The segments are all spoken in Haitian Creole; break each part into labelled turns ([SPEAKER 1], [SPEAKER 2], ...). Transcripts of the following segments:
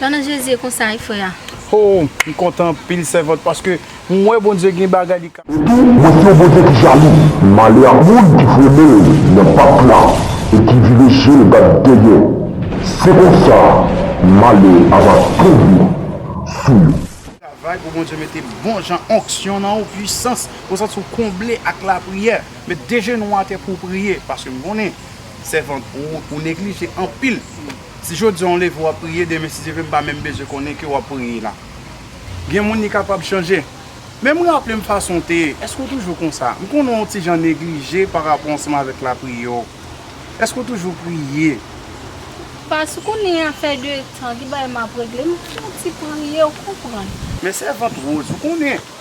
[SPEAKER 1] Nan non jezi
[SPEAKER 2] e konsa wi frè a. Hoo m kontan
[SPEAKER 1] anpil sèvant paske m wè Bondye gen bagay li ka. Epi mwen di w
[SPEAKER 3] Bondye ki jalou. Male a moun ki frennen l nan bak la e ki vire je l gad dèyè. Se konsa male a va tonbe sou yo. Travay pou Bondye
[SPEAKER 1] mete bon jan onksyon nan ou, pwisans, pou w santi w konble ak lapriyè. Met de jenou w atè pou w priye, paske m konnen, sèvant, ou neglije anpil. Si jodi an ou leve wap priye demen si Dye vle m pa menm bezwen konnen ke wap priye la. Gen moun li kapab chanje. Men m raple m fason w te ye. Eske w toujou konsa? M konnen w yon ti jan neglije pa rapò ansanm avèk lapriyè w. Eske w toujou priye?
[SPEAKER 2] Pas konnen afè de tan ki bay map regle m fon ti priye ou konprann. Men sèvant
[SPEAKER 1] Rose ou konnen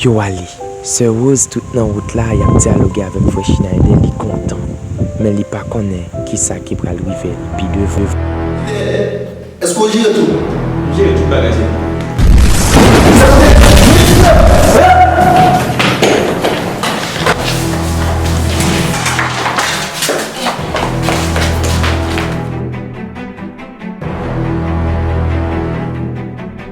[SPEAKER 4] Yo ale. Sè Rose tout nan wout la yap dyaloge avèk frè Schneider li kontan men li pa konnen kisa ki pral rive l pi devan. Pierre,
[SPEAKER 5] Èske ou jere tout? M
[SPEAKER 6] jere tout bagay se pou ou. Sa vle di ou jwe jwèt vre?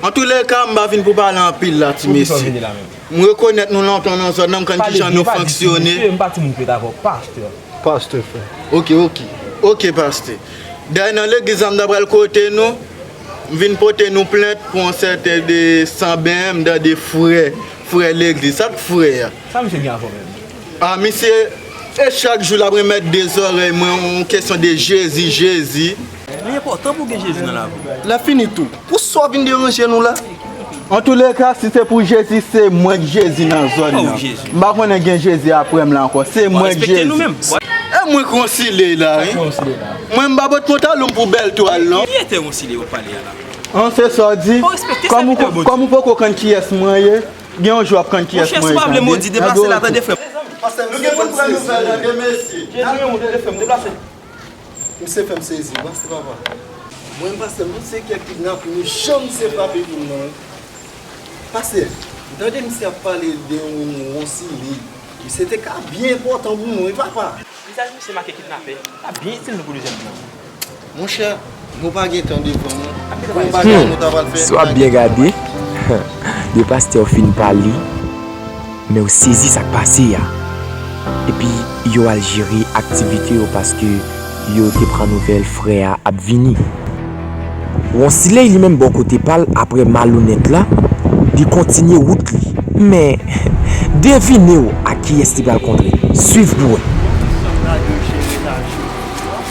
[SPEAKER 5] Antoulèka, m pa vin pou pale anpil la ti mesye. M rekonèt nou lontan nan zòn nan, m konn kijan nou fonksyone. M pa timoun fèt avè w, pastè. Pastè, frè. Ok, ok. Ok, pastè. Dayè nan legliz la m ta pral kote nou, m vin pote nou plent pou yon sèten de Sanben, m tande frè, frè legliz. Sa k frè a? Sa misye gen avè w
[SPEAKER 7] menm? A, misye,
[SPEAKER 5] e chak jou l ap renmèt de zòrèy mwen yon kesyon de Jezi, Jezi. Li enpòtan
[SPEAKER 7] pou w gen Jezi nan lavi w. Lè fini tou, pou
[SPEAKER 5] sa w vin deranje nou la. Antoulèka, si se pou Jezi, se mwen k Jezi nan zòn nan. M pa konnen
[SPEAKER 7] gen Jezi
[SPEAKER 5] aprè m la ankò. Se mwen k Jezi. E mwen
[SPEAKER 7] k
[SPEAKER 5] Ronsiley la wi. Mwen m pa pot pantalon m pou bèl twal non. Ki etè Ronsiley w ap pale
[SPEAKER 7] a la? An, se sa w di?
[SPEAKER 5] Kòm ou poko konn kiyès mwen ye, gen yon jou w ap konn kiyès mwen ye tande. Monchè, si w pa vle modi,
[SPEAKER 7] deplase la tande frè m. Nou gen pou n pran
[SPEAKER 5] nouvèl tande mesye.
[SPEAKER 7] Misye
[SPEAKER 5] fèm sezi wi se papa. Mwen pasteur tout se kè kidnap nou jan misye frape moun nan wi pasteur m tande misye ap pale de yon ronsili misye te ka byen enpòtan pou mwen wi papa. Vizaj misye make
[SPEAKER 7] kidnapè, lap byen itil nou pou dezyèm plan. Monchè.
[SPEAKER 5] Nou pa gen tan devan nou. Bon bagay nou ta pral fè. Si w ap byen gade,
[SPEAKER 4] de pastè yo fin pale, men yo sezi sa k pase a. Epi yo al jere aktivite yo paske yo te pran nouvèl frè a ap vini. Wonsiley li menm bò kote pa l aprè malonèt la, li kontinye wout li. Men, devine w ak kiyès li pral kontre. Swiv pou w wè. Bon ki jan radyo jere laj yo?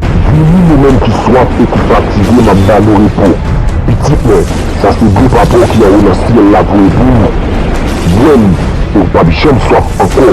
[SPEAKER 3] Billy yo menm ki swaf e ki fatige map ba nou repo pitit mwen sa se dlo papa w ki anwo nan syèl la voye pou ou bwè li e ou pap janm swaf ankò.